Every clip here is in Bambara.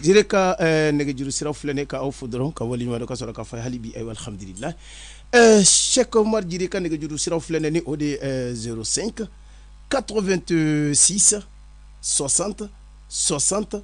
Jire ka eh, nɛgɛjuru sira filɛ ne ka aw fo dɔrɔn ka waleɲumandɔn ka sɔrɔ k'a fɔ hali bi aw ye alhamdulilahi eh, Seku Umaru Jire ka nɛgɛjuru sira filɛ ne ni o de eh, zéro cinq quatre-vingt-six soixante soixante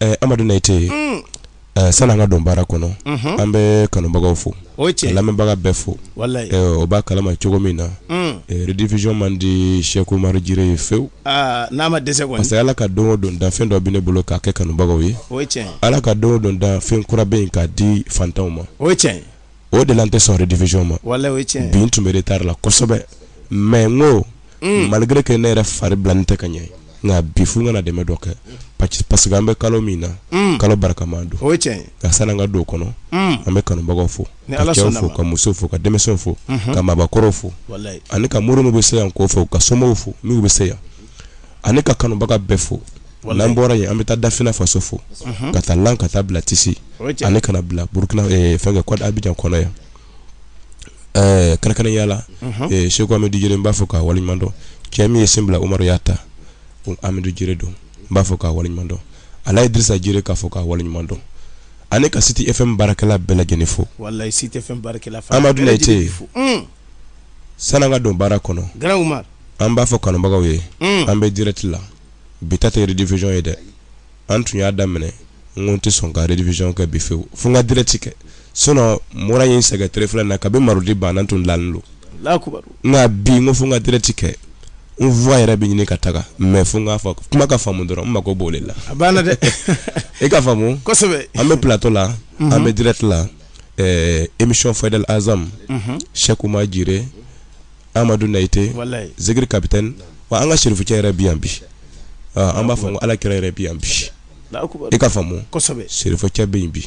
eh, amadu nayite mm. eh, sani an ka don baara kɔnɔ mm -hmm. an bɛ kanubagaw fo o cɛ lamɛnbaga bɛɛ fo eh, o b'a kalama cogo min na mm. eh, rediffusion man di seku umaru jire ye fewu ah, n'a ma dɛsɛ kɔni parce que ala ka don o don dan fɛn dɔ bɛ ne bolo k'a kɛ kanubagaw ye o cɛ ala ka don o don dan fɛn kura bɛ yen k'a di fantanw ma o cɛ o de la n tɛ sɔn rediffusion ma bi n tun bɛ retard la kosɛbɛ mais n ko mm. malgré que ne yɛrɛ fari bilalen tɛ ka ɲɛ nka bi fo n ka na dɛmɛ dɔ kɛ parce que an bɛ kalo min na mm. kalo barikama don nka san'an ka don kɔnɔ mm. an bɛ kanubagaw fo ka cɛw fo ka musow fo ka denmisɛnw fo mhm. ka maabakɔrɔw fo ani ka mori min bɛ se yan k'o fo ka somaw fo min bɛ se yan ani ka kanubaga bɛɛ fo n'an bɔra yen an bɛ taa dafina faso fo k'a ta lan ka taa bila tisi ani ka na bila burukina fɛn kɛ abijan kɔnɔ yan kɛrɛnkɛrɛnnenya la seku amadu jire n b'a fo k'a waleɲumandɔn cɛ min ye sen bila oya ta ko amadu jire don n b'a fo k'a waleɲumandɔn alaji idrisa jire k'a fo k'a waleɲumandɔn ani ka City FM baarakɛla bɛɛ lajɛlen fo amadu ce San'an ka don baara kɔnɔ. Grand Umar. An b'a fɔ kanubagaw ye. Un! An bɛ direct la. Bi ta tɛ rediffusion ye dɛ! An tun y'a daminɛ, n ko n tɛ sɔn ka rediffusion kɛ bi fewu, fo n ka direct kɛ. Sinon mura ye n sɛgɛn tile fila in na, kabini mardi banna n tun dalen don. Alahu akibaru! Nka bi, n ko fo n ka direct kɛ. N voix yɛrɛ bɛ ɲini ka taga mais fo n k'a fɔ, kuma ka faamu dɔrɔn, n mako b'o de la. A banna dɛ! I k'a faamu. Kosɛbɛ! An bɛ plateau la. Unhun! An bɛ direct la. ɛɛ émission Fadel Azam unhun Cheick Oumar Djire Amadou Neïté walahi Zikiri capitaine wa an ka serifucɛ yɛrɛ bi yan bi aa an b'a fɔ ko Ala kira yɛrɛ bi yan bi i k'a faamu kosɛbɛ serifucɛ bɛ yen bi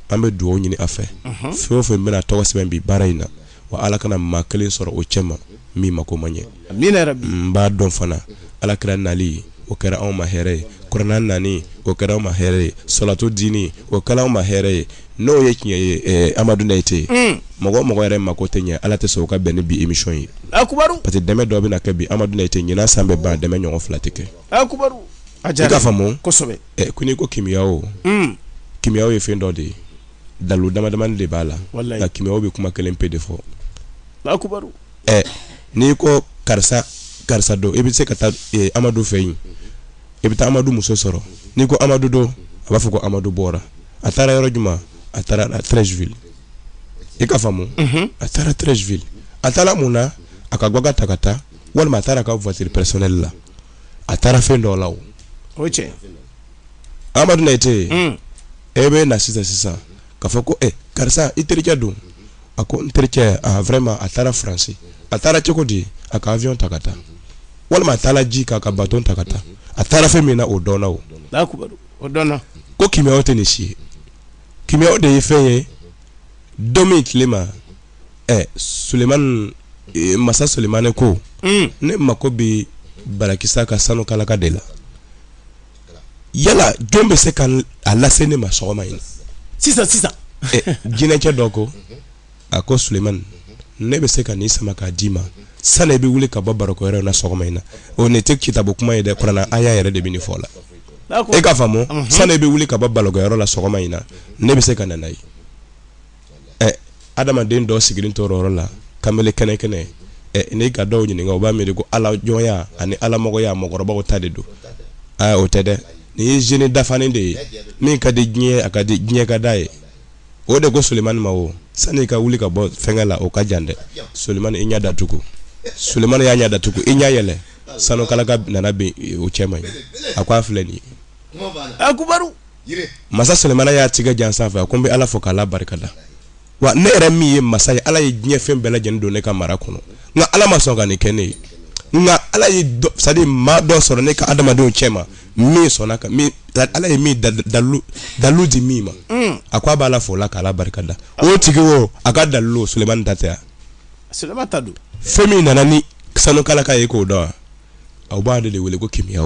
an bɛ dugawu ɲini a fɛ fɛn o fɛn bɛna tɔgɔ sɛbɛn bi baara in na wa ala kana maa kelen sɔrɔ o cɛma min mako ma ɲɛ n b'a dɔn fana ala kira nali o kɛra anw ma hɛɛrɛ ye kuranɛ nani o kɛra anw ma hɛɛrɛ ye salatu dini o kɛra anw ma hɛɛrɛ ye n'o ye tiɲɛ ye eh, amadu nayite hmm. mɔgɔ mɔgɔ yɛrɛ mako tɛ ɲɛ ala tɛ sɔn o ka bɛn ni bi émission ye parce que dɛmɛ dɔ bɛna kɛ bi amadu nayite ɲinan san bɛ ban dɛmɛ ɲɔgɔn fila tɛ kɛ i k'a faamu eh, ko n'i ko kimiya o hmm. kimiyaw ye fɛn dɔ de ye dalu damadamani de b'a la nka kimiyaw bɛ kuma kelen pe de fɔ ɛ n'i ko karisa karisa don i bɛ se ka taa e, amadu fɛ yen i bɛ taa amadu muso sɔrɔ n'i ko amadu don a b'a fɔ ko amadu bɔra a taara yɔrɔ jumɛn a taara treichville i k'a faamu mhm. a taara treichville a taara mun na a ka gbaka ta ka taa walima a taara a ka voiture personnelle la a taara fɛn dɔ la o amadu na i tɛ yen mm. e bɛ na sisan sisan ka fɔ ko e karisa i terikɛ don a ko n terikɛ vraiment a taara faransi a taara cogo di a ka avion ta ka taa walima a taara ji kan a ka bato ta ka taa a taara fɛn min na o dɔnna o o dɔnna ko kimiyaw tɛ nin si ye kimiyaw de ye fɛn ye don min tile ma ɛ solimani masa solimani ko ne mako bɛ barakisa ka sanu kalaka de la yala jɔn bɛ se ka a lase ne ma sɔgɔma in na sisan sisan jinɛcɛ dɔ ko a ko sulemani ne bɛ se ka nin sama k'a d'i ma sani i bɛ wuli ka bɔ barokɛyɔrɔ na sɔgɔma in na o nin tɛ kitabu kuma ye dɛ kurana aya yɛrɛ de bɛ nin fɔ la e k'a faamu sani i bɛ wuli ka bɔ barokɛyɔrɔ la sɔgɔma in na ne bɛ se ka na n'a ye ɛ adamaden dɔ sigilen tora yɔrɔ la kamalen kɛnɛ kɛnɛ ɛ n'i ka dɔw ɲininka u b'a miiri ko ala jɔnya ani alamɔgɔya mɔgɔkɔrɔbaw ta de don aa o tɛ dɛ nin ye jeune dafanen de ye min ka di diɲɛ a ka di diɲɛ ka d'a ye o de ko solimani ma o sani i ka wuli ka bɔ fɛnkɛ la o ka jan dɛ solimani i ɲɛ datugu solimani y'a ɲɛ datugu i ɲɛ yɛlɛ sanu kalaka nana bin o cɛ ma yen a ko a filɛ nin ye akubaru masa sulemani y'a tigɛ jan sanfɛ a ko n bɛ ala fo k'ala barika da wa ne yɛrɛ min ye masa ye ala ye diɲɛ fɛn bɛɛ lajɛlen don ne ka mara kɔnɔ nka ala ma sɔn ka nin kɛ ne ye nka ala ye c'est à dire maa dɔ sɔrɔ ne ka adamadenw cɛ ma min sɔnna ka ala ye min dalu di min ma mm. a ko a b'ala fo o la k'a barika da o tigi o a ka dalu solemani ta tɛ fɛn min nana ni sanu kalaka ye k'o dɔn aw b'a de wele ko kimiya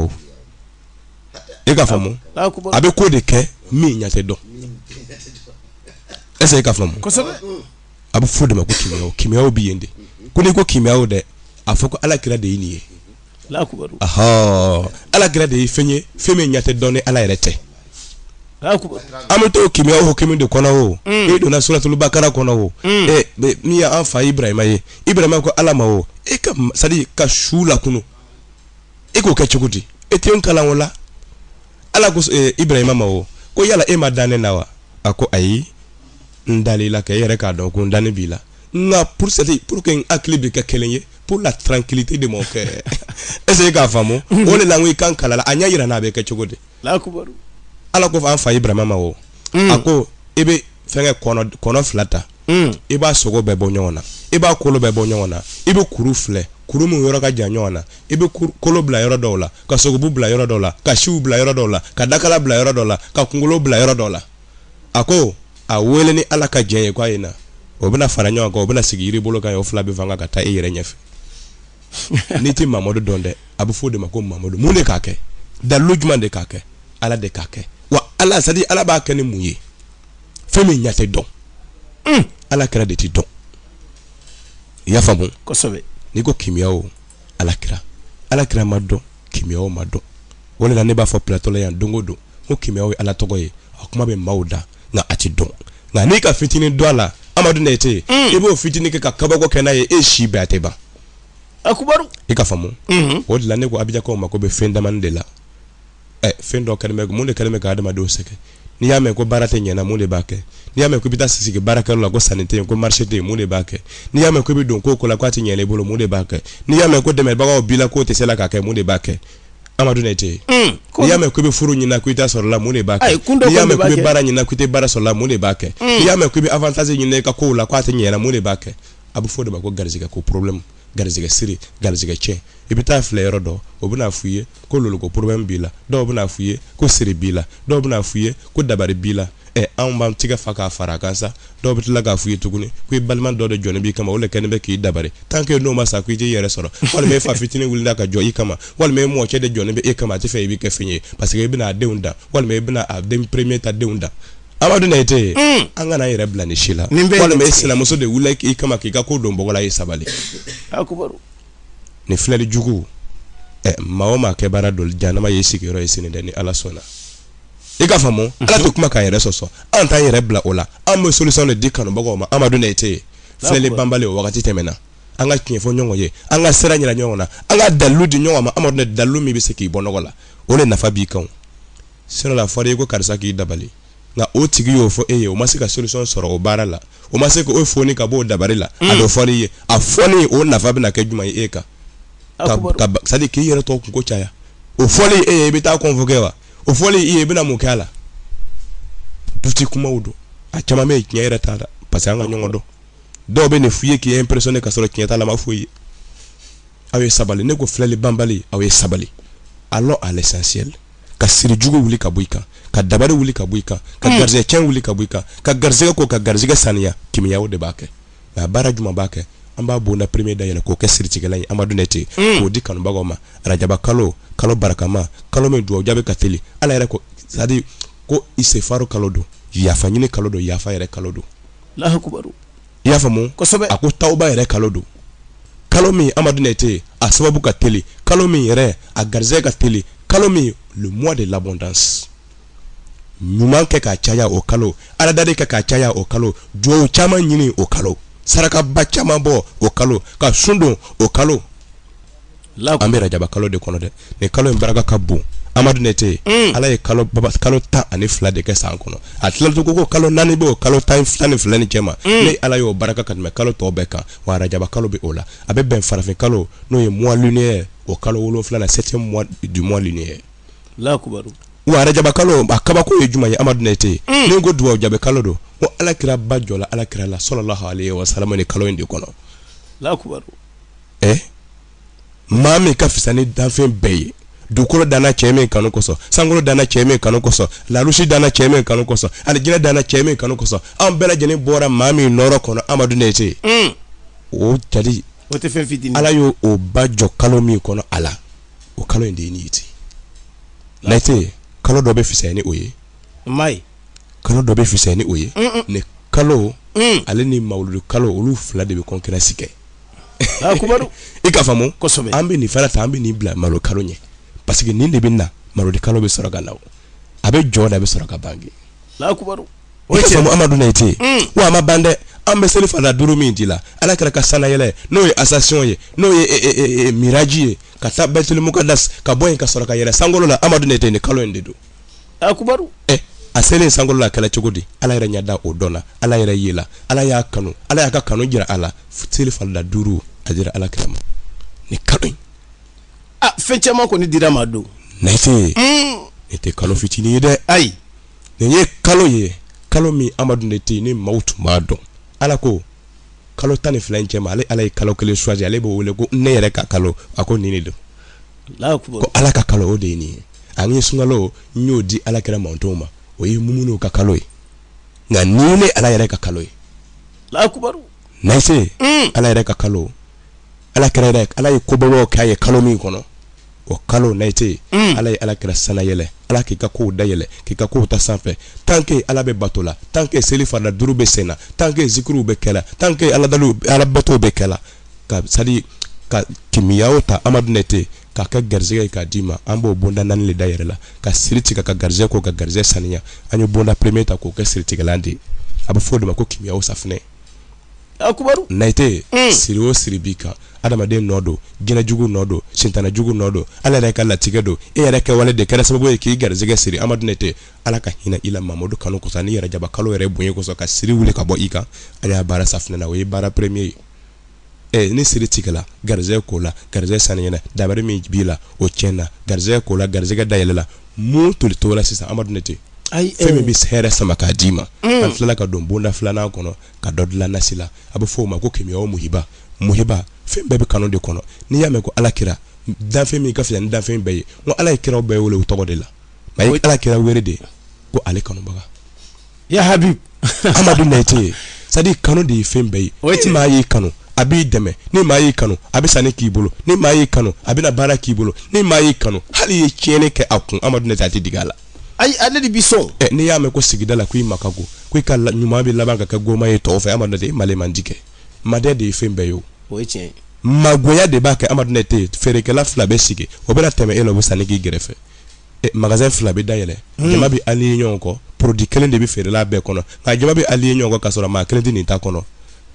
e k'a faamu a bɛ ko de kɛ min ɲɛ tɛ dɔn est ce que e k'a faamu a bɛ fɔ de ma ko kimiyaw kimiyaw bɛ yen de ko n'i ko kimiyaw dɛ a fɔ ko ala kira de ye nin ye ala kira de ye fɛn ye fɛn min ɲɛ tɛ dɔn ni ala yɛrɛ tɛ an bɛ to kimiyaw hukumu de kɔnɔ o mm. e donna suratulu bakara kɔnɔ o mm. min y'an fa ibrahima ye ibrahima ko ala ma o e ka sa ka su lakun e k'o kɛ cogo di e tɛ n kalan o la ala ko eh, ibrahima ma o ko yala e ma da ne na wa a ko ayi n dal'i la kɛ e yɛrɛ k'a dɔn ko n dani b'i la nka pour seli pour que n hakili bɛ kɛ kelen ye pour la tranquillité de mon cœur est ce que i k'a faamu o de la n ko i ka n kalan a la a ɲɛ yira n na a bɛ kɛ cogo di ala ko fɔ an fa ibrahima ma o a ko e bɛ fɛnkɛ kɔnɔ kɔnɔ fila ta hmm. i b'a sogo bɛɛ bɔ ɲɔgɔn na i b'a kolo bɛɛ bɔ ɲɔgɔn na i bɛ kuru filɛ kuru min yɔrɔ ka jan ɲɔgɔn na i bɛ kolo bila yɔrɔ dɔw la ka sogobu bila yɔrɔ dɔw la ka siw bila yɔrɔ dɔw la ka dakala bila yɔrɔ dɔw la ka kunkolo bila yɔrɔ dɔw la a ko a wele ni ala ka jɛn ye k'a ye na o bɛna fara ɲɔgɔn kan o bɛna sigi yiri bolo kan o fila bɛ pan ka taa i yɛrɛ ɲɛfɛ n'i tɛ mamadu dɔn dɛ a bɛ fɔ o de ma ko mamadu mun de k'a kɛ dalilu jumɛn de k'a kɛ ala de k'a kɛ wa ala c'est à dire ala b'a kɛ ni mun ye fɛn min ɲɛ tɛ dɔn hmm. ala kira de tɛ dɔn i y'a faamu kosɛbɛ n'i ko kimiya o ala kira ala kira ma dɔn kimiya o ma dɔn o de la ne b'a fɔ platɔ la yan don o don ko kimiya ye ala tɔgɔ ye a kuma bɛ maaw da nka a tɛ dɔn nka n'i ka fitinin dɔn a la amadu nɛte hmm. i b'o fitinin kɛ ka kabako kɛ n'a ye e si bɛɛ a tɛ ban akubaru i ka faamu hmm. o de la ne ko abijankaw ma ko bɛ fɛn damani de la ɛ fɛn dɔ kɛlen bɛ mun de kɛlen bɛ ka adamadenw sɛgɛn n'i y'a mɛn ko baara tɛ ɲɛna mun de b'a kɛ n'i y'a mɛn ko i bɛ taa sigi baarakɛyɔrɔ la ko sanni tɛ yen ko marché tɛ yen mun de b'a kɛ n'i y'a mɛn ko i bɛ don ko o ko la k'a tɛ ɲɛ i bolo mun de b'a kɛ n'i y'a mɛn ko dɛmɛbagaw b'i la k'o tɛ se la k'a kɛ mun de b'a kɛ Amadu Nɛte hmm, n'i y'a mɛn ko i bɛ furu ɲinina ko i t'a sɔrɔ la mun de b'a kɛ n'i y'a mɛn ko i bɛ baara ɲinina ko i tɛ baara sɔrɔ la mun de b'a kɛ hmm. n'i y'a mɛn ko i bɛ avantage ɲinina i ka kow la k'a tɛ ɲɛ i la mun de b'a kɛ a bɛ fɔ o de ma ko garizigɛ ko problème garisɛgɛ siri garisɛgɛ cɛn i bɛ taa filɛ yɔrɔ dɔ o bɛna f'i ye ko loloko problème b'i la dɔw bɛna f'i ye ko siri b'i la dɔw bɛna f'i ye ko dabari b'i la ɛ anw b'an tigɛ fa k'a fara a kan sa dɔw bɛ tila k'a f'i ye tuguni ko i balima dɔ de jɔlen b'i kama o le kɛlen bɛ k'i dabari tant que n'o ma sa ko i t'i yɛrɛ sɔrɔ walima e fa fitinin wulila ka jɔ i kama walima e mɔcɛ de jɔlen bɛ e kama a tɛ fɛ i bɛ kɛ fɛn ye parce que i bɛna a denw dan walima i bɛna a den premier ta denw dan amadu nɛte mm. an kan'an yɛrɛ bila nin si la walima e sinamuso de wulila i kama k'i ka ko don bɔgɔ la i sabali ni filɛli jugu ɛ maa o maa ka baara don jahanama y'i sigiyɔrɔ ye sini dɛ ni ala sɔnna i ka faamu mhm. ala tɛ kuma k'a yɛrɛ sɔsɔ an t'an yɛrɛ bila o la an bɛ solution de di kanubagaw ma amadu nɛte filɛli banbali o wagati tɛmɛna an ka tiɲɛ fɔ ɲɔgɔn ye an ka sira ɲira ɲɔgɔn na an ka dalilu di ɲɔgɔn ma amadu nɛte dalilu min bɛ se k'i bɔ nɔgɔ la o de nafa b'i kan Sinon la, a fɔra i ye ko karisa k'i dabali, nka o tigi y'o fɔ e ye, o ma se ka solution sɔrɔ o baara la, o ma se k'o foni ka bɔ o dabali la, a dɔ fɔra i ye, a fɔli o nafa bɛna kɛ jumɛn ye e kan? ka c'est à dire k'i yɛrɛ tɔ kunko caya, o fɔli e ye i bɛ taa convoquer wa? O fɔli i ye i bɛna mun kɛ a la? Doute kumaw don, a caman bɛ yen tiɲɛ yɛrɛ t'a la parce que an ka ɲɔgɔn dɔn, dɔw bɛ nin f'i ye k'i impressionner ka sɔrɔ tiɲɛ t'a la, a ma foyi ye. aw ye sabali ne ko filɛli banbali aw ye sabali allons à l'essentiel ka siri jugu wuli ka bɔ i kan ka dabari wuli ka bɔ i kan ka garisɛgɛ cɛn wuli ka bɔ i kan ka garisɛgɛ ko ka garisɛgɛ saniya kimiya o de b'a kɛ nka baara jumɛn b'a kɛ an b'a bonda premier da yɛlɛ k'o kɛ siritigɛla ye amadu nɛte hmm. k'o di kanubagaw ma arajaba kalo kalo barakama kalo min duwawu jaabi ka teli ala yɛrɛ ko c'est-à-dire ko istighfaru kalo don yafa ɲini kalo don yafa yɛrɛ kalo don i y'a faamu kosɛbɛ a ko tawuba yɛrɛ kalo don kalo min amadu nɛte a sababu ka teli kalo min yɛrɛ a garisɛgɛ ka teli kalo min le mois de l'abondance ɲuman kɛ k'a caya o kalo aladari kɛ k'a caya o kalo duwawu caman ɲini o kalo sarakaba caman bɔ o kalo ka sun don o kalo la an bɛ rajaba kalo de kɔnɔ dɛ ni kalo in barika ka bon amadu nɛte mm. ala ye kalo kalo tan ani fila de kɛ san kɔnɔ a tilala ko kalo naani bɛ kalo tan tan ni fila ni cɛ ma mm. ne ala y'o barika ka tɛmɛ kalo tɔw bɛɛ kan wa rajaba kalo bɛ o la a bɛ bɛn farafin kalo n'o ye mois lunaire o kalo wolonwulanan septième du mois lunaire la wa rajaba kalo a kabako ye jumɛn ye amadu nɛte mm. ni ko dugawu jaabi kalo don ko ala kira ba jɔla ala kira la salalahu alayihi wa salamu ni kalo in de kɔnɔ la ɛ maa min ka fisa ni danfɛn bɛɛ ye dugukolo danna cɛ min kanu kosɔn sankolo danna cɛ min kanu kosɔn larusi danna cɛ min kanu kosɔn alijinɛ danna cɛ min kanu kosɔn an bɛɛ lajɛlen bɔra maa min nɔrɔ kɔnɔ amadu nɛte hmm. o jali o tɛ fɛn fitini ala y'o o ba jɔ kalo min kɔnɔ a la o kalo in de ye nin ye ten nɛte kalo dɔ bɛ fisaya ni o ye ayi kalo dɔ bɛ fisaya ni o ye nin kalo hmm. ale ni mawuludu kalo olu fila de bɛ concurrence kɛ Ah, i ka faamu kosɛbɛ an bɛ nin fana ta an bɛ nin bila malodi kalo ɲɛ parce que nin de bɛ na malodi kalo bɛ sɔrɔ ka na a bɛ jɔ d'a bɛ sɔrɔ ka bange ah, o cɛ amadu nɛte hmm. wa a ma ban dɛ an bɛ seli fana duuru min dila ala kira ka sanayɛlɛ n'o ye ascension ye n'o ye eh, eh, eh, miraji ye ka taa baitul muqaddas ka bɔ yen ka sɔrɔ ka yɛlɛ sankolo la amadu nɛte ni kalo in de don akubaru ɛ a selen sankolo la a kɛla cogo di ala yɛrɛ ɲɛda o don na ala yɛrɛ yela ala y'a kanu ala y'a ka kanu jira a la seli farila duuru a dira ala kira ma ni kalo in na fɛn caman kɔni dira ma don nɛte hmm. nin tɛ kalo fitinin ye dɛ ayi nin ye kalo ye kalo min amadu nɛte yen ni maaw tun b'a dɔn ala ko kalo tan ni fila in cɛ ma ale ala ye kalo kelen choisi ale b'o wele ko ne yɛrɛ ka kalo a ko nin de don ko ala ka kalo o de ye nin ye ani sunkalo n y'o di ala kira mantɔnw ma o ye mumunuw ka kalo ye nka nin ne ala yɛrɛ ka kalo ye nɛte mm. ala yɛrɛ ka kalo ala kira yɛrɛ ala ye kobabaw k'a ye kalo min kɔnɔ o kalo nayite mm. ala ye ala kira sanayɛlɛ ala k'i ka kow dayɛlɛ k'i ka kow ta sanfɛ tanke ala bɛ bato la tanke seli farida duuru bɛ sen na tanke zikiriw bɛ kɛla tanke aladaliw ala batow bɛ kɛla ka sadi ka kimiyaw ta amadu nayite k'a kɛ garisɛgɛ ye k'a d'i ma an b'o bonda naani le dayɛlɛ la ka siri tigɛ ka garisɛgɛ ko ka garisɛgɛ saniya an ye bonda premier ta k'o kɛ siritigɛlan de ye a bɛ fɔ o de ma ko kimiyaw safinɛ nayite hmm. siri o siri b'i kan adamaden nɔ don jinɛjugu nɔ don sintanajugu nɔ don ala yɛrɛ ka latigɛ don e yɛrɛ kɛwale de kɛra sababu ye k'i garisɛgɛ siri amadu nete ala ka hinɛ i la mamadu kanu kosɔn ni rajaba kalo yɛrɛ bonya kosɔn ka siri wuli ka bɔ i kan ale y'a baara safinɛ na o ye baara premier ye eh, ni siri tigɛla garisɛgɛ kola garisɛgɛ saniyana dabari min b'i la o tiɲɛna garisɛgɛ kola garisɛgɛ dayɛlɛla mun toli tola sisan amadu nete fɛn min bɛ hɛrɛ sama k'a d'i ma an tilala ka don bonda filanan kɔnɔ ka dɔ dilan nasi la a bɛ fɔ o ma ko kimiyaw muhiba muhiba fɛn bɛɛ bɛ kanu de kɔnɔ n'i y'a mɛn ko ala kira danfɛn min ka fisa ni danfɛn bɛɛ ye ko ala ye kiraw bɛɛ wele u tɔgɔ de la a ye ala kira wele de ko ale kanubaga ya habib amadu nayite ye sadi kanu de ye fɛn bɛɛ ye o ni maa y'i kanu a b'i dɛmɛ ni maa y'i kanu a bɛ sanni k'i bolo ni maa y'i kanu a bɛna baara k'i bolo ni maa y'i kanu hali i ye tiɲɛni kɛ a kun amadu nayite a tɛ digi a la ayi ale de bi sɔn ɛ n'i y'a mɛn ko sigida la ko i ma ka go ko i ka ɲuman bɛ laban ka kɛ goma ye tɔw fɛ amadu nete ma le man di kɛ madiya de ye fɛn bɛɛ ye o ye tiɲɛ ye magoya de b'a kɛ amadu nete feerekɛla fila bɛ sigi o bɛna tɛmɛ e la o bɛ sanni k'i gɛrɛfɛ magasɛn fila bɛ dayɛlɛ hmm. jama bɛ aliɲe ɲɔgɔn kɔ porodi kelen de bɛ feerela bɛɛ kɔnɔ nka jama bɛ aliɲe ɲɔgɔn kɔ k'a sɔrɔ maa kelen tɛ nin ta kɔnɔ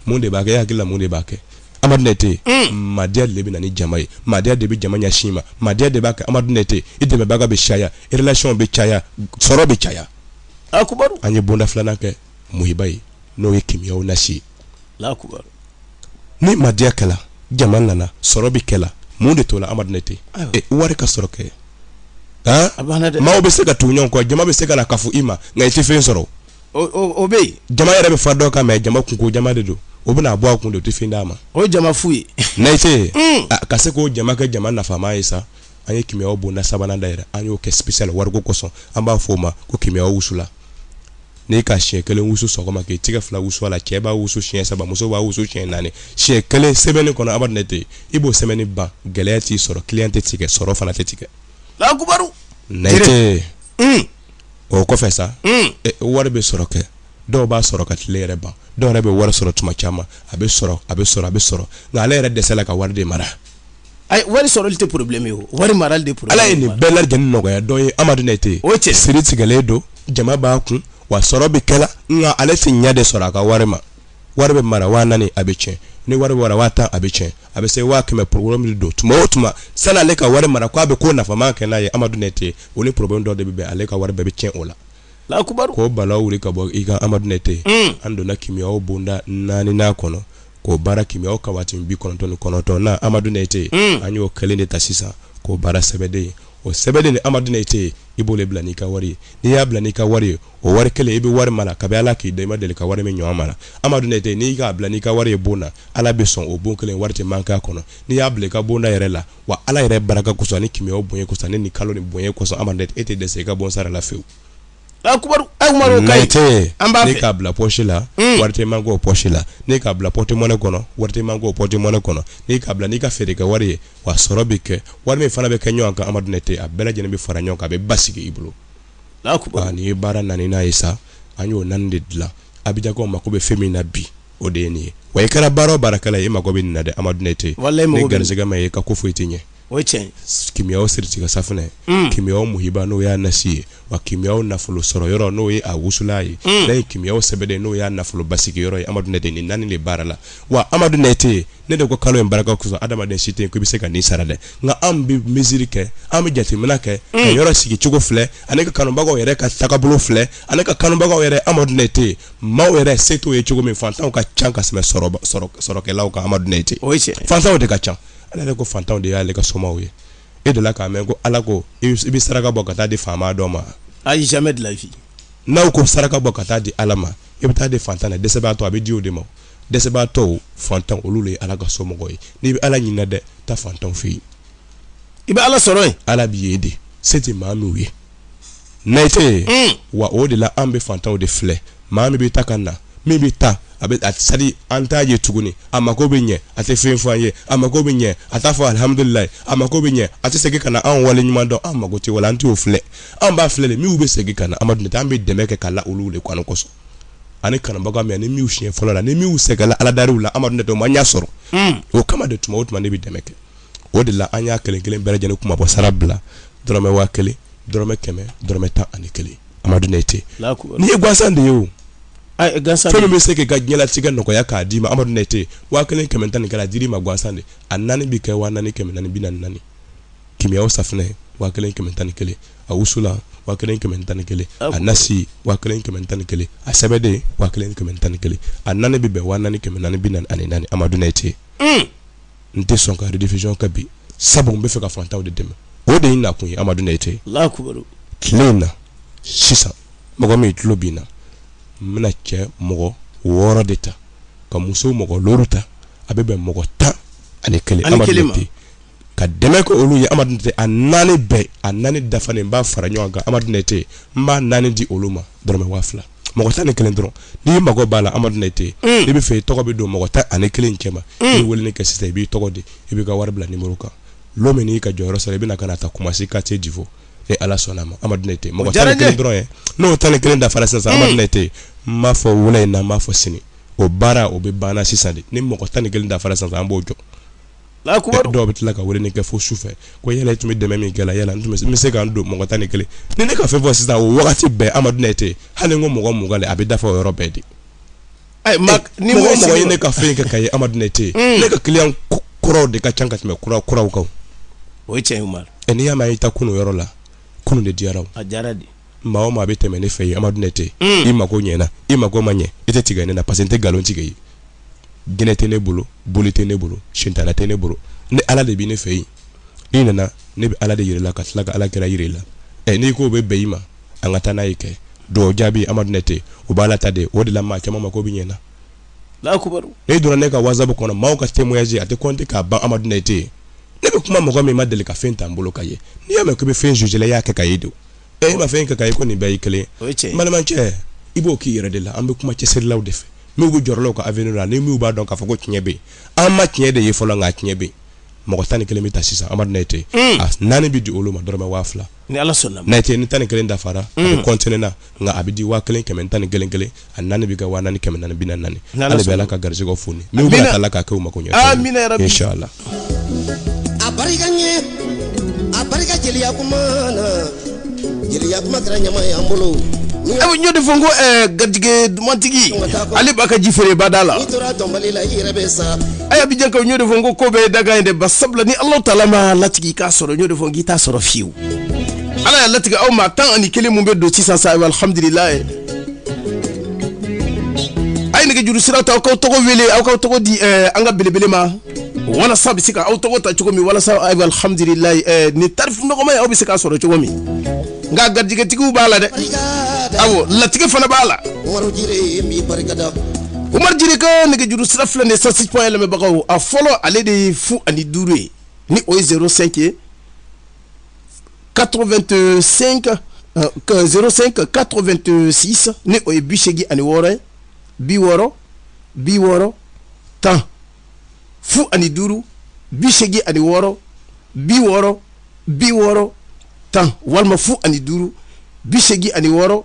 mun de b'a kɛ e hakili la mun de b'a kɛ Amadu nete madiya de bɛ na ni jama ye madiya de bɛ jama ɲɛsin i ma madiya de b'a kɛ amadu nete i dɛmɛbaga bɛ caya erelasɔn bɛ caya sɔrɔ bɛ caya a an ye bonda filanan kɛ muhiba ye n'o ye kimiyaw nasi ni madiya kɛla jama nana sɔrɔ bɛ kɛla mun de tola amadu nete wari ka sɔrɔ kɛ maaw bɛ se ka tugu ɲɔgɔn kɔ jama bɛ se ka na kafu i ma nka i tɛ fɛn sɔrɔ o bɛ yen jama yɛrɛ bɛ fa dɔ kan mɛ jama kunko jama de don o bɛna bɔ a kun don o tɛ fɛn d'a ma o ye jama fu ye nete mm. ka se k'o jama kɛ jama nafama ye sa an ye kimiyaw bonda sabanan dayɛlɛ an y'o kɛ spécial wariko kosɔn an b'a fɔ o ma ko kimiyaw wusulan n'i ka siɲɛ kelen wusu sɔgɔma k'i tɛgɛ fila wusu a la cɛ b'a wusu siɲɛ saba muso b'a wusu siɲɛ naani siɲɛ kelen sɛmɛni kɔnɔ amadu nete i b'o sɛmɛni ban gɛlɛya t'i sɔrɔ kiliyan tɛ tigɛ sɔrɔ fana tɛ tigɛ lakubaru nete mm. o kɔfɛ sa wari bɛ sɔrɔ kɛ dɔw b'a sɔrɔ ka tile yɛrɛ ban dɔw yɛrɛ bɛ wari sɔrɔ tuma caman a bɛ sɔrɔ a bɛ sɔrɔ a bɛ sɔrɔ nka ale yɛrɛ dɛsɛla ka wari de mara wari sɔrɔli tɛ porobilenmi ye wari mara de ala ye nin bɛɛ lajɛlen nɔgɔya dɔ ye amadu nete o cɛ siri tigɛlen don jama b'a kun wa sɔrɔ bɛ kɛla nka ale tɛ ɲɛ de sɔrɔ a ka wari ma wari bɛ mara waa naani a bɛ tiɲɛ ni wari bɛ mara waa tan a bɛ tiɲɛ a bɛ se waa kɛmɛ porobilɛmu de don tuma o tuma sani ale ka wari mara k'a bɛ ko nafama kɛ n'a ye amadu nɛtɛ o ni porobilɛmu dɔ de bɛ bɛn ale ka wari bɛɛ bɛ tiɲɛ o la lakubaru k'o bala wuli ka bɔ i kan amadu nɛtɛ hmm. an donna kimiyaw bonda naaninan kɔnɔ k'o baara kimiyaw ka waati bi kɔnɔntɔn ni kɔnɔntɔn na amadu nɛtɛ hmm. an y'o kelen de ta sisan k'o baara sɛbɛden o sɛbɛden ni amadu nɛtɛ i b'o bila n'i ka wari ye n'i y'a bila n'i ka wari ye o wari kelen i bɛ wari mara kabi ala k'i da i ma deli ka wari min ɲɔgɔn mara amadu nɛtɛ n'i k'a bila n'i ka wari ye bon na ala bɛ sɔn o bon kelen wari tɛ manke a kɔnɔ n'i y'a bila i ka bonda yɛrɛ la wa ala yɛrɛ baraka kosɔn ni kimiyaw bonya kosɔn ni kalo ni bonya kosɔn amadu nɛtɛ e tɛ dɛsɛ i ka bon sara la fewu lakubaru n'e k'a bila pɔsi la hmm. wari tɛ manke o pɔsi la n'e k'a bila pɔtemɔnɛ kɔnɔ wari tɛ manke o pɔtemɔnɛ kɔnɔ n'e k'a bila n'i ka feere kɛ wari ye wa sɔrɔ bɛ kɛ wari min fana bɛ kɛ ɲɔgɔn kan amadu nɛtɛ a bɛɛ lajɛlen bɛ fara ɲɔgɔn kan a bɛ basigi i bolo nin ye baara naaninan ye sa an y'o naani de dilan abijankaw mako bɛ fɛn min na bi o de ye nin ye wa i kɛra baara o baarakɛla ye i mako bɛ nin na dɛ amadu nɛtɛ n'i garisigɛ ma ye i ka ko foyi tɛ ɲɛ o cɛ kimiyaw siritigɛ safunɛ kimiyaw muhiba n'o y'a nasi ye wa kimiyaw nafolo sɔrɔ yɔrɔ n'o ye a wusula ye ani kimiyaw sɛbɛden n'o y'a nafolo basigi yɔrɔ ye amadu nɛtɛ nin naani de baarala wa amadu nɛtɛ ne de ko kalo in baraka kosɔn adamaden si tɛ yen ko i bɛ se ka nin sara dɛ nka an bɛ miiri kɛ an bɛ jateminɛ kɛ ka mm. yɔrɔ sigi cogo filɛ ani ka kanubagaw yɛrɛ ka tagabolo filɛ ani ka kanubagaw yɛrɛ amadu nɛtɛ maaw yɛrɛ se t'o ye cogo min fantanw ka ca ka tɛmɛ sɔrɔkɛlaw kan amadu nɛtɛ fantanw de ka ca ala yɛrɛ ko fantanw de y'ale ka somaw ye e dela k'a mɛn ko ala ko i bɛ saraka bɔ ka taa di faama dɔ ma ayi jamais de la vie n'aw ko saraka bɔ ka taa di ala ma i bɛ taa di fantan na dɛsɛbaatɔ a bɛ di o de ma dɛsɛbaatɔw fantan olu de ye ala ka somɔgɔw ye n'i bɛ ala ɲinina dɛ taa fantanw fɛ yen i bɛ ala sɔrɔ yen ala bɛ yen de se tɛ maa minnu ye nɛtɛ hmm. wa o de la an bɛ fantanw de filɛ maa min bɛ taa ka na min bɛ taa a bɛ sadi an t'a ye tuguni a mako bɛ ɲɛ a tɛ fɛn fɔ an ye a mako bɛ ɲɛ a t'a fɔ alihamudulilayi a mako bɛ ɲɛ a tɛ segin ka na an wale ɲuman dɔn an mako tɛ wala an t'o filɛ an b'a filɛ de minnu bɛ segin ka na amadu nɛtɛ an bɛ dɛmɛ kɛ ka la olu de kɔnɔ kosɔn ani kanubaga min ni miu siɲɛ fɔlɔ la ni miu sɛgɛnna aladariw la amadu nɛtɛ o ma ɲa sɔrɔ hmm. o kama de tuma o tuma ne bɛ dɛmɛ kɛ o de la an y'a kelen kelen bɛɛ lajɛlen kunmabɔ sara bila dɔrɔmɛ waa kelen dɔrɔmɛ kɛmɛ dɔrɔmɛ tan ani kelen amadu nɛtɛ nin ye gansan de ye o fɛn min bɛ se k'i ka diɲɛlatigɛ nɔgɔya k'a d'i ma amadu nɛtɛ waa kelen kɛmɛ tan ni kelen a dir'i ma gansan de a naani bɛ kɛ waa naani kɛmɛ naani bi naani naani kimiyaw safinɛ waa kelen kɛmɛ tan ni kelen a wusulan waa kelen kɛmɛ tan ni kelen a nasi waa kelen kɛmɛ tan ni kelen a sɛbɛden waa kelen kɛmɛ tan ni kelen a naani bɛ bɛn waa naani kɛmɛ naani bi naani ani naani amadu nɛtɛ hmm. n tɛ sɔn ka rediffusion kɛ bi sabu n bɛ fɛ ka faantanw de dɛmɛ o de ye n nakun ye amadu nɛtɛ tile in na sisan mɔgɔ min tulo bɛ n na n bɛna cɛ mɔgɔ wɔɔrɔ de ta ka muso mɔgɔ looru ta a bɛ bɛn mɔgɔ tan ani kelen amadu nɛtɛ ka dɛmɛ kɛ olu ye amadu nɛtɛ a naani bɛɛ a naani dafalen n b'a fara ɲɔgɔn kan amadu nɛtɛ n b'a naani di olu ma dɔrɔmɛ waa fila mɔgɔ tan ni kelen dɔrɔn n'i mago b'a la amadu nɛtɛ n'i bɛ fɛ i tɔgɔ bɛ don mɔgɔ tan ani kelen cɛ ma i bɛ weleli kɛ sisan i b'i tɔgɔ di i b'i ka wari bila numéro kan lɔ min n'i ka jɔyɔrɔ sɔrɔ i bɛna ka na ta koumassi quartier divo ni ala sɔnna ma amadu nɛtɛ mɔgɔ tan ni kelen dɔrɔn ye n'o tan ni kelen dafara sisan amadu nɛtɛ n m'a fɔ wula in na n m'a fɔ sini o baara o bɛ banna sisan de ni mɔgɔ tan ni kelen dafara sisan an b'o jɔ dɔw bɛ tila ka weleli kɛ fo su fɛ ko yala i tun bɛ dɛmɛ min kɛ la yala n bɛ se ka don mɔgɔ tan ni kelen ni ne ka fɛn fɔ sisan o wagati bɛɛ amadu nɛtɛ hali n ko mɔgɔ mugan a bɛ dafa o yɔrɔ bɛɛ de ni mɔgɔ ye ne ka fɛn kɛ k'a ye amadu nɛtɛ hmm. ne ka client kɔrɔw de ka ca ka tɛmɛ kura kuraw kan o tiɲɛ n'i y'a mɛn i taa kunun yɔrɔ la kunun de diyara maa o maa bɛ tɛmɛ ne fɛ yen amadu nɛtɛ i mako ɲɛna i mako ma ɲɛ e tɛ tigɛ ne na parce que n tɛ nkalon tigɛ ye jinɛ tɛ ne bolo boli tɛ ne bolo sitana tɛ ne bolo ni ala de bɛ ne fɛ yen i nana ne bɛ ala de yir'i la ka tila ka ala kira jir'i la ɛ n'i ko bɛ bɛn i ma an ka taa n'a ye kɛ dɔw jaabi amadu nɛtɛ u b'a ala ta de o de la maa caman mako bɛ ɲɛna n'i donna ne ka whatsapp kɔnɔ maaw ka témoignage a tɛ compter k'a ban amadu nɛtɛ ne bɛ kuma mɔgɔ min ma deli ka fɛn ta n bolo k'a ye n'i y'a mɛn k'i bɛ fɛn juger la i y'a kɛ k'a ye de e ma fɛn kɛ k'a ye i ko nin bɛɛ ye kelen balimakɛ i b'o k'i yɛrɛ de la an bɛ kuma cɛsirilaw de fɛ minw bɛ jɔrɔ la u ka avenir la ni minw b'a dɔn k'a fɔ ko tiɲɛ bɛ an ma tiɲɛ de ye fɔlɔ nka tiɲɛ bɛ mɔgɔ tan ni kelen bɛ ta sisan amadu nɛtɛ a naani bɛ di olu ma dɔrɔmɛ waa fila ni ala sɔnna nɛtɛ ni tan ni kelen dafara a bɛ continuer na nka a bɛ di waa kelen kɛmɛ tan ni kelen kelen a naani bɛ kɛ waa naani kɛmɛ naani bi naani ale bɛ ala ka garisɛgɛ foni n'u bɛ ala ka kɛ mako ɲɛ la a barika ɲɛ a barika jeliya kuma na jeliya kuma kɛra ɲama ye an bolo aw ɲɔ de fɔ ko eh, garijɛgɛ duman tigi ala b'a ka ji feere bada la abijan ka ɲɔ de fɔ ko ko bɛɛ dakan de ba sabula ni alahu taala m'a latigɛ k'a sɔrɔ ɲɔ de fɔ k'i t'a sɔrɔ fiyewu ala y'a latigɛ aw ma tan ani kelen min bɛ don sisan sa alhamdulila ye a ye nɛgɛjuru sira ta aw k'aw tɔgɔ wele aw k'aw tɔgɔ di eh, an ka belebele ma walasa a bɛ se ka aw tɔgɔ ta cogo min walasa ayiwa alhamdulilayi eh, nin tarifu nɔgɔman ye aw bɛ se k'a sɔrɔ cogo min nka garijɛgɛtigiw b'a la dɛ awo latigɛ fana b'a la umaru jire ka nɛgɛjuru sira filɛ nin ye cent six point un lamɛnbagaw a fɔlɔ ale de ye fu ani duuru ye ni o ye zero cinq ye 85 05 86 ni o ye bi seegin ani wɔɔrɔ ye bi wɔɔrɔ bi wɔɔrɔ tan fu ani duuru bi seegin ani wɔɔrɔ bi wɔɔrɔ bi wɔɔrɔ tan walima fu ani duuru bi seegin ani wɔɔrɔ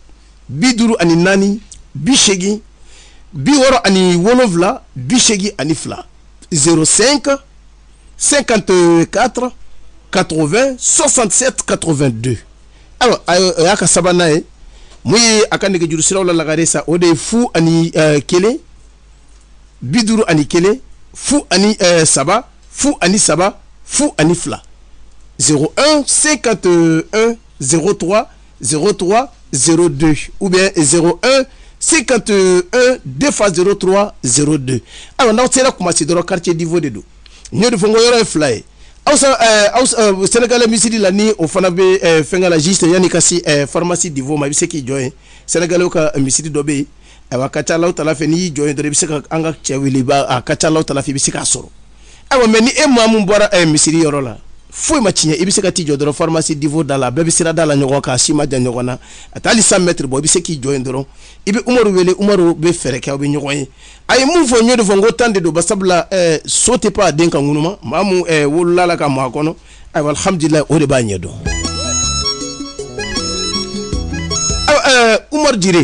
bi duuru ani naani bi seegin bi wɔɔrɔ ani wolonwula bi seegin ani fila zero cinq cinquante quatre quatre vingt soixante sept quatre vingt deux ayiwa o y'a ka sabanan ye mun ye a ka nɛgɛjuru siraw la lagare sa o de ye fu ani eh, kelen bi duuru ani kelen fu ani eh, saba fu ani saba fu ani fila zero un cinquante un zero trois 03 02 ou bien 01 51 2 fois 03 02 alors n'aw sera kumasi dɔrɔn quartier divo de don n y'o de fɔ n ko yɔrɔ ye fila ye aw sa eh, aw eh, sɛnɛgalɛ misiri la ni o fana bɛ eh, fɛnkɛ la juste yanni ka se pharmacie divo ma i bɛ se k'i jɔ yen sɛnɛgalɛw ka misiri dɔ bɛ yen ayiwa a ka ca a la wulada fɛ n'i y'i jɔ yen dɔrɔn i bɛ se ka an ka cɛ wele ba a ka ca a la wulada fɛ i bɛ se k'a sɔrɔ awa mais ni e maa min bɔra eh, misiri yɔrɔ la foyi ma tiɲɛ i bɛ se ka t'i jɔ dɔrɔn farmasi divo da la bɛɛ bɛ sira da la ɲɔgɔn kan si man jan ɲɔgɔn na a tɛ hali cent mètres bɔ i bɛ se k'i jɔ yen dɔrɔn i bɛ umaru wele umaru bɛ fɛɛrɛ kɛ aw bɛ ɲɔgɔn ye a ye mun fɔ n y'o de fɔ n ko tan de don ba sabula eh, so tɛ pan a den ka ŋunuma maa min eh, wolola a la ka mɔ a kɔnɔ ayiwa alhamdulilayi o de b'a ɲɛ dɔn umaru jire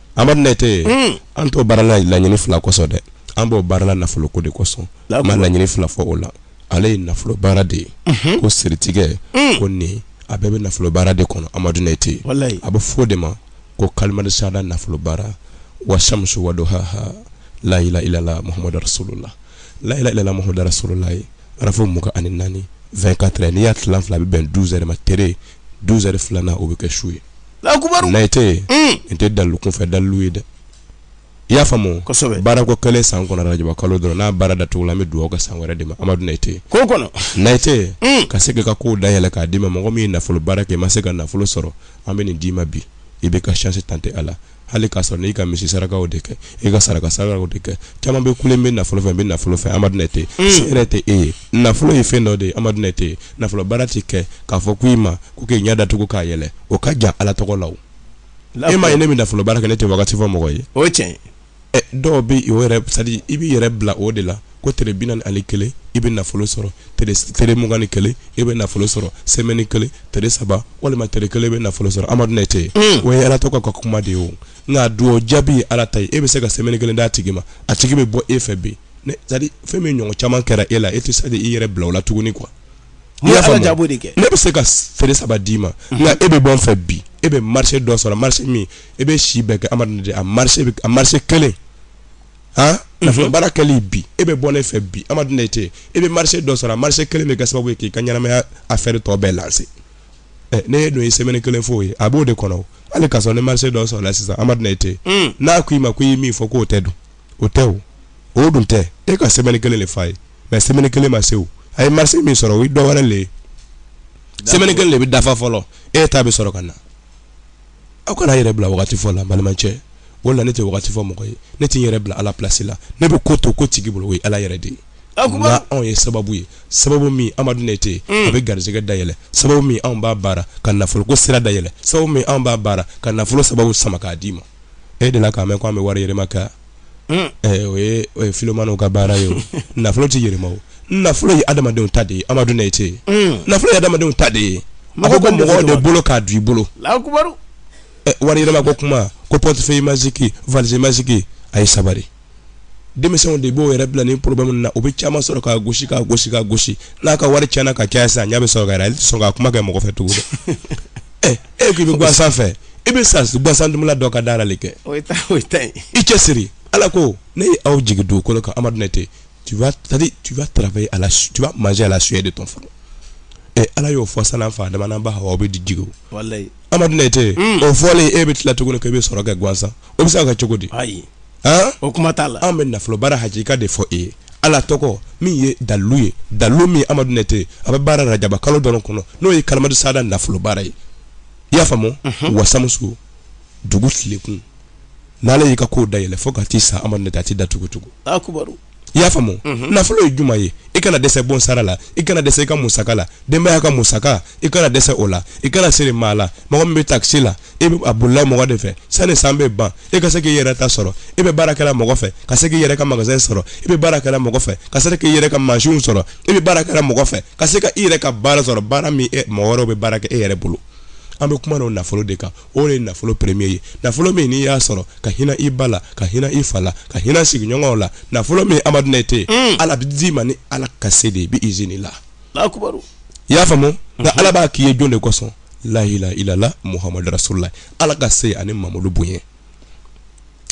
Amadu Nɛte, un, an t'o baara la laɲini fila kosɔn dɛ, an b'o baara la nafolo ko de kosɔn, n ma laɲini fila fɔ o la, ale ye nafolo baara de ye, unhun, ko siritigɛ, un, ko nin a bɛɛ bɛ nafolo baara de kɔnɔ Amadu Nɛte, walayi, a bɛ fɔ o de ma ko kalimati sahada nafolo baara wa samusu wa duhaha layila ilala Mohamadu rasulula layila ilala Mohamadu rasululayi harafu mugan ani naani 24 heures n'i y'a tilan fila a bɛ bɛn 12 heures ma tere 12 heures filanan o bɛ kɛ su ye nayitɛ hmm. nin tɛ dalu kunfɛ dalu ye dɛ i y'a faamu baara ko kelen san kɔnɔ rajaba kalo dɔrɔn n'a baara da tugula an bɛ dugawu kɛ san wɛrɛ de ma amadu nayitɛ nayitɛ hmm. ka se ka ko da yɛlɛ k'a d'i ma mɔgɔ min ye nafolo baara kɛ i ma se ka nafolo sɔrɔ an bɛ nin d'i ma bi i b'i ka chance tenter a la hali k'a sɔrɔ n'i ka misi sarakaw de kɛ e ka saraka sarakaw de kɛ caman bɛ kule n bɛ nafolo fɛ n bɛ nafolo fɛ amadu nete hmm. si yɛrɛ tɛ e ye nafolo ye fɛn dɔ de ye amadu nete nafolo baara tɛ kɛ k'a fɔ ko i ma ko k'i ɲɛ datugu k'a yɛlɛ o ka jan ala tɔgɔ la o e m'a ye ne bɛ nafolo baara kɛ ne tɛ wagati fɔ mɔgɔ ye o ye tiɲɛ ye ɛ dɔw bɛ o yɛrɛ c'est à dire i b'i yɛrɛ bila o de la ko tile bi naani ani kelen i bɛ nafolo sɔrɔ tele mugan ni kelen i bɛ nafolo sɔrɔ sɛmɛni kelen tele saba walima tele kelen bɛ nafolo sɔrɔ amadu nete o ye ala tɔgɔ ko kuma de ye o nka dugawu jaabi ye ala ta ye e bɛ se ka sɛmɛni kelen d'a tigi ma a tigi bɛ bɔ e fɛ bi c'est à dire fɛn min ɲɔgɔn caman kɛra e la e tɛ sa i yɛrɛ bila o la tuguni quoi ne bɛ se ka tele saba d'i ma nka e bɛ bɔ n fɛ bi e bɛ marise dɔ sɔrɔ marise min e bɛ si bɛɛ kɛ amadu nete a marise a marise kelen han nafolo baara kɛli bi e bɛ bɔ ne fɛ bi amadu nete e bɛ marise dɔ sɔrɔ a marise kelen bɛ kɛ sababu ye k'i ka ɲɛnamaya afɛri tɔ bɛɛ lanse ɛ ne ye don ye sɛmɛni kelen f'o ye a b'o de kɔnɔ hali ka sɔrɔ ni marise dɔ sɔrɔla sisan amadu nete hmm. n'a ko i ma ko i ye min fɔ k'o tɛ dun o tɛ o o dun tɛ e ka sɛmɛni kelen de fa ye mais sɛmɛni kelen ma se o a ye marise min sɔrɔ o ye dɔ wɛrɛ le ye sɛmɛni kelen de bɛ dafa fɔlɔ e ta bɛ sɔrɔ ka na aw kana yɛrɛ bila wagati fɔ la n balimacɛ wala ne tɛ wagati fɔ mɔgɔ ye ne tɛ n yɛrɛ bila ala plasi la ne bɛ ko to ko tigi bolo o ye ala yɛrɛ de ye anw ye sababu ye sababu min amadu nete a bɛ garisɛgɛ dayɛlɛ sababu min anw b'a baara ka nafolo ko sira dayɛlɛ sababu min anw b'a baara ka nafolo sababu sama k'a d'i ma e delila k'a mɛn k' an bɛ wari yɛlɛma kɛ Hmm. Eh, o ye o ye filomaniw ka baara ye o nafolo tɛ yɛlɛma o nafolo ye adamadenw ta de ye amadu nete Hmm. nafolo ye adamadenw ta de ye a ko ko Mɔgɔ mɔgɔw de bɛ bolo ka don i bolo allahu akbar Eh, wari yɛlɛma ko kuma ko portefeuille magique valise magique a ye sabari denmisɛnw de b'u yɛrɛ bila ni problème ninnu na o bɛ caman sɔrɔ k'a gosi k'a gosi k'a gosi n'a ka wari tiɲɛna ka caya sisan a ɲɛ bɛ sɔrɔ ka yɛlɛ ale tɛ sɔn k'a kuma kɛ mɔgɔ fɛ tugun dɛ ɛ e ko i bɛ gwansan fɛ i bɛ sa gwansan dumula dɔ ka dara le kɛ o ye ta o ye ta ye i cɛ siri ala ko ne ye aw jigi dugukolo kan amadu nete tu vas c'est à dire tu vas travailler à la tu vas manger à la sueur de ton front ɛ ala y'o fɔ sa an fa adama n'an ba hawa aw bɛ di jigi o walayi amadu nete o fɔlen e bɛ tila tuguni ko i bɛ sɔrɔ kɛ gwansan o bɛ se ka kɛ cogo di ayi o kuma t'a la an bɛ nafolobara hakika de fɔ e ye ala tɔgɔ min ye dalilu ye dalilu min amadu nete a bɛ baara rajaba kalo dɔrɔn kɔnɔ n'o ye kalimatu sahada nafolobara ye i y'a faamu wasamuso dugu tilekun n'ala y'i ka ko da yɛlɛ fo ka t'i sa amadu nete a tɛ datugu tugun i y'a faamu mhm. nafolo ye jumɛn ye i kana dɛsɛ bon sara la i kana dɛsɛ i ka musaka la denbaya ka musaka i kana dɛsɛ o la i kana siri maa la mɔgɔ min bɛ takisi la i bɛ a bolila mɔgɔ de fɛ sani san bɛ ban i ka se k'i yɛrɛ ta sɔrɔ i bɛ baara kɛla mɔgɔ fɛ ka se k'i yɛrɛ ka magasin sɔrɔ i bɛ baara kɛla mɔgɔ fɛ ka se k'i yɛrɛ ka mansin sɔrɔ i bɛ baara kɛla mɔgɔ fɛ ka se ka i yɛrɛ ka baara sɔrɔ baara min mɔgɔ wɛrɛw bɛ baara kɛ e yɛrɛ bolo an bɛ kuma n'o nafolo de kan o de ye nafolo premier ye nafolo min n'i y'a sɔrɔ ka hinɛ i ba la ka hinɛ i fa la ka hinɛ sigiɲɔgɔnw la nafolo min amadu nɛte mm. ala bɛ d'i ma ni ala ka se de ye bi izini la i y'a faamu mm-hmm. nka ala b'a k'i ye jɔn de kosɔn lahila ilala muhamadu rasulila ala ka se ani mamadu bonya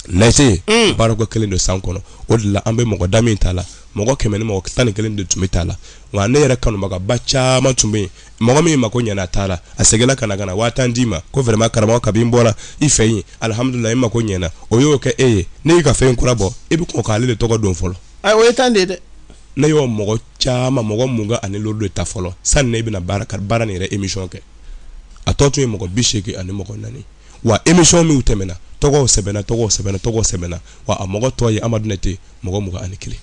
nɛte mm. baarako kelen don san kɔnɔ o de la an bɛ mɔgɔ da min ta la mɔgɔ kɛmɛ ni mɔgɔ tan ni kelen de tun bɛ ta la nka ne yɛrɛ kanubagaba caman tun bɛ yen mɔgɔ min mako ɲɛna a taara a seginna ka na ka na waa tan di n ma ko vraiment karamɔgɔ kabi n bɔra i fɛ yen alihamudulila n mako ɲɛna o y'o kɛ e ye ne y'i ka fɛn kura bɔ i bɛ kɔn k'ale de tɔgɔ don fɔlɔ. ayi o ye tan de ye dɛ. ne y'o mɔgɔ caman mɔgɔ mugan ani duuru de ta fɔlɔ sanni ne bɛna baara baara nin yɛrɛ emission kɛ a tɔ tun ye mɔgɔ bi seegin ani mɔgɔ naani. wa émission minw tɛmɛna tɔgɔw sɛbɛnna tɔgɔw sɛbɛnna tɔgɔw sɛbɛnna wa a mɔgɔ tɔ ye amadu nɛte mɔgɔ mugan ani kelen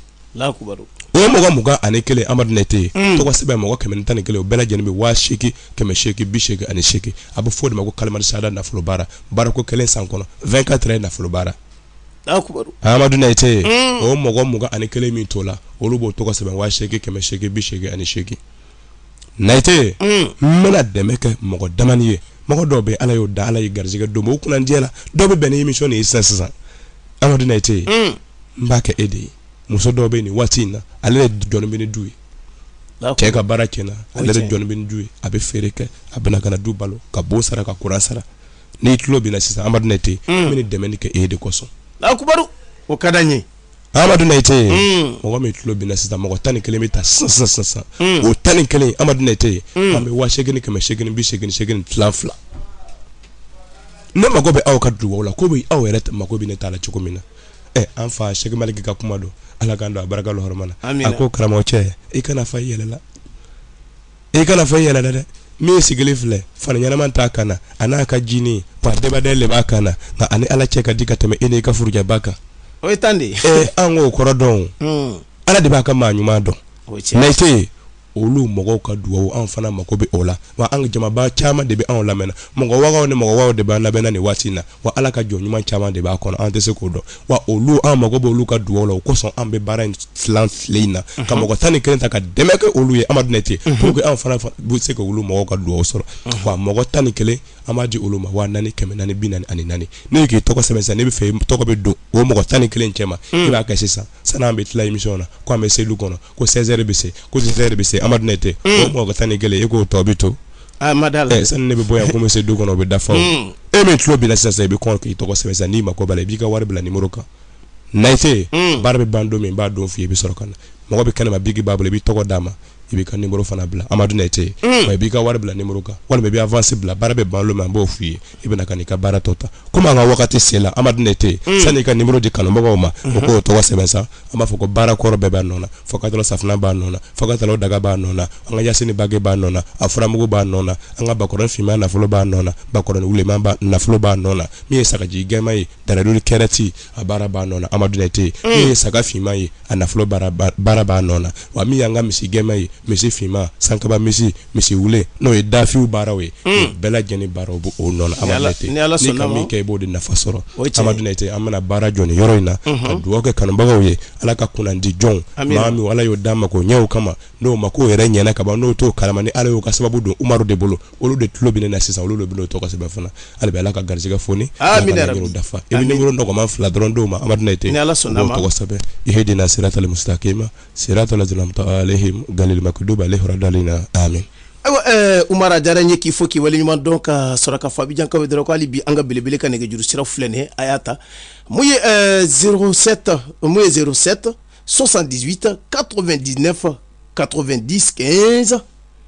o mɔgɔ mugan ani kelen amadu nɛte ye mm. tɔgɔ sɛbɛn mɔgɔ kɛmɛ ni tan ni kelen o bɛɛ lajɛlen bɛ waa seegin kɛmɛ seegin bi seegin ani seegin a bɛ fɔ o de ma ko kalima sahada nafolo baara baarako kelen san kɔnɔ vingt quatre ye nafolo baara amadu nɛte ye mm. o mɔgɔ mugan ani kelen min tola olu b'o tɔgɔ sɛbɛn waa seegin kɛmɛ seegin bi seegin ani seegin Nayite n bɛna dɛmɛ kɛ mɔgɔ damani ye mɔgɔ dɔw bɛ ala y'o dan ala ye garijɛgɛ don o kunnandiya la dɔw bɛ bɛn ni émission de ye sisan sisan amadu nayite n b'a kɛ e de ye muso dɔw bɛ nin waati in na ale ye dɔnni du ye cɛ ka baara cɛnna ale de dɔnni du ye a bɛ feere kɛ a bɛna ka du balo ka bon sara ka kuran sara n'i tulo bɛ n na sisan amadu nɛte n bɛna dɛmɛ kɛ e de kosɔn o ka ye amadu nayite mm. mɔgɔ min tulo bɛ n na sisan mɔgɔ tan ni kelen bɛ ta sisan sisan sisan mm. o tan ni kelen amadu nayite mm. an bɛ waa seegin kɛmɛ seegin bi seegin seegin tilan fila ne mago bɛ aw ka dugaw la komi aw yɛrɛ mago bɛ ne ta la cogo min na ɛ an fa sɛki maliki ka kuma don ala k'an don a barika la hɔrɔma na a ko karamɔgɔ cɛ i kana fa i yɛrɛ la i kana fa i yɛrɛ la dɛ min sigilen filɛ fani ɲɛnama t'a kan na a n'a ka jini wa débardeur le b'a kan na nka a ni ala cɛ ka di ka tɛmɛ e n'i ka forokiyaba kan o ye tan de ye ee an k'o kɔrɔ dɔn hmm. ala de b'a ka maa ɲuman dɔn nayite olu mɔgɔw ka dugawu anw fana mako bɛ o la wa an jamaba caman de bɛ anw lamɛnna mɔgɔ wagaw ni mɔgɔ wagaw de b'an lamɛnna nin waati in na wa ala ka jɔn ɲuman caman de b'a kɔnɔ an tɛ se k'o dɔn wa olu an mago bɛ olu ka dugaw la o kosɔn an bɛ baara in tilan fila in na ka mɔgɔ tan ni kelen ta ka dɛmɛ kɛ olu ye amadu nɛte pour que an fana bɛ se ka olu mɔgɔw ka dugaw sɔrɔ wa mɔgɔ tan ni kelen an b'a di olu ma waa naani kɛmɛ naani bi naani ani naani n'e k'i tɔgɔ sɛbɛn sisan n'i b'a fɛ i tɔgɔ bɛ don o mɔgɔ tan ni kelen cɛma i b'a kɛ sisan sani an bɛ tila émission na ko an bɛ se du kɔnɔ ko 16 heures bɛ se ko 16 heures bɛ se amadu nɛte o mɔgɔ tan ni kelen e k'o tɔ bɛ to a ah, ma d'a la eh, sani ne bɛ bɔ yan ko n bɛ se du kɔnɔ o bɛ dafa o hmm. e min tulo bɛ n na sisan i bɛ kɔn k'i tɔgɔ sɛbɛn sisan n'i mako b'a la i b'i ka wari bila nimoro kan nayite hmm. baara bɛ ban don min n b'a don f'i ye i bɛ sɔrɔ ka na mɔgɔ bɛ kɛnɛma biki b'a bolo i b'i tɔgɔ d'a ma i b'i ka nimoro fana bila amadu nayite hmm. wa i b'i ka wari bila nimoro kan walima i bɛ avansi bila baara bɛ ban don min an b'o f'i ye i bɛna ka n'i ka baara tɔ ta komi an ka wagati sela Amadu Nɛte mm. sani i ka nimoro di kanubagaw ma o k'o tɔgɔ sɛbɛn sa an b'a fɔ ko baara kɔrɔ bɛɛ b'a nɔ na fokatalo safinɛ b'a nɔ na fokatalo daga b'a nɔ na an ka yasini bage b'a nɔ na a furamugu b'a nɔ na an ka bakɔrɔni finman nafolo b'a nɔ na bakɔrɔni wuleman nafolo b'a nɔ na min ye sagaji gɛman ye daraduli kɛrɛti a baara b'a nɔ na Amadu Nɛte mm. min ye saga finman ye a nafolo baara b'a nɔ na wa min y'an ka misi gɛman ye misi finman sankaba misi misi wule n'o ye dafiw baaraw ye mm. bɛɛ lajɛlen baaraw b'o nɔ na Amadu Nɛte n'i ka min kɛ i b'o de nafa sɔrɔ Amadu Nɛte an bɛna baara jɔ nin yɔrɔ in na mm-hmm. ka dugawu kɛ kanubagaw ye ala ka kunnandi jɔnw maa min ala y'o da mako ɲɛw kama n'o mako yɛrɛ ɲɛna ka ban n'o t'o kalama ni ala y'o ka sababu don umaru de bolo olu de tulo bɛ na sisan olu de bɛ tɔgɔ sɛbɛn fana hali bɛ ala ka garisɛgɛ foni dafa i bɛ nimuru nɔgɔma fila dɔrɔn dɔw ma amadina tɛ ala sɔnna tɔgɔ sɛbɛn i hd na sira tali musa k'e ma sira tala galimakudoba ale hɔrɔn dalen na a min ayiwa u mara diyara ye k'i fɔ k'i waleɲuman dɔn ka sɔrɔ ka fabijankaw dɔrɔn k'ale bi an ka belebele ka nɛgɛjuru sira filɛ nin a y'a ta mun ye zeta mun ye zeta sɔsan dita kato2 di nefan kato2 di kɛsan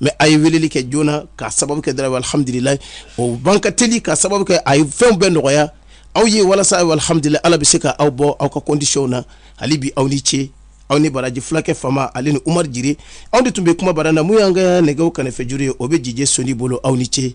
mɛ a ye weleli kɛ joona ka sababu kɛ dɔrɔn alhamdulilayi o ban ka teli ka sababu kɛ a ye fɛnw bɛɛ nɔgɔya aw ye walasa alhamdulilayi ala bɛ se ka aw bɔ aw ka kɔndisiyɔn na hali bi aw ni ce aw ni baraji fulakɛ fama ale ni umaru jire aw de tun bɛ kuma bara na min y'an ka nɛgɛw karafejuru ye o bɛ DJ soni bolo aw ni ce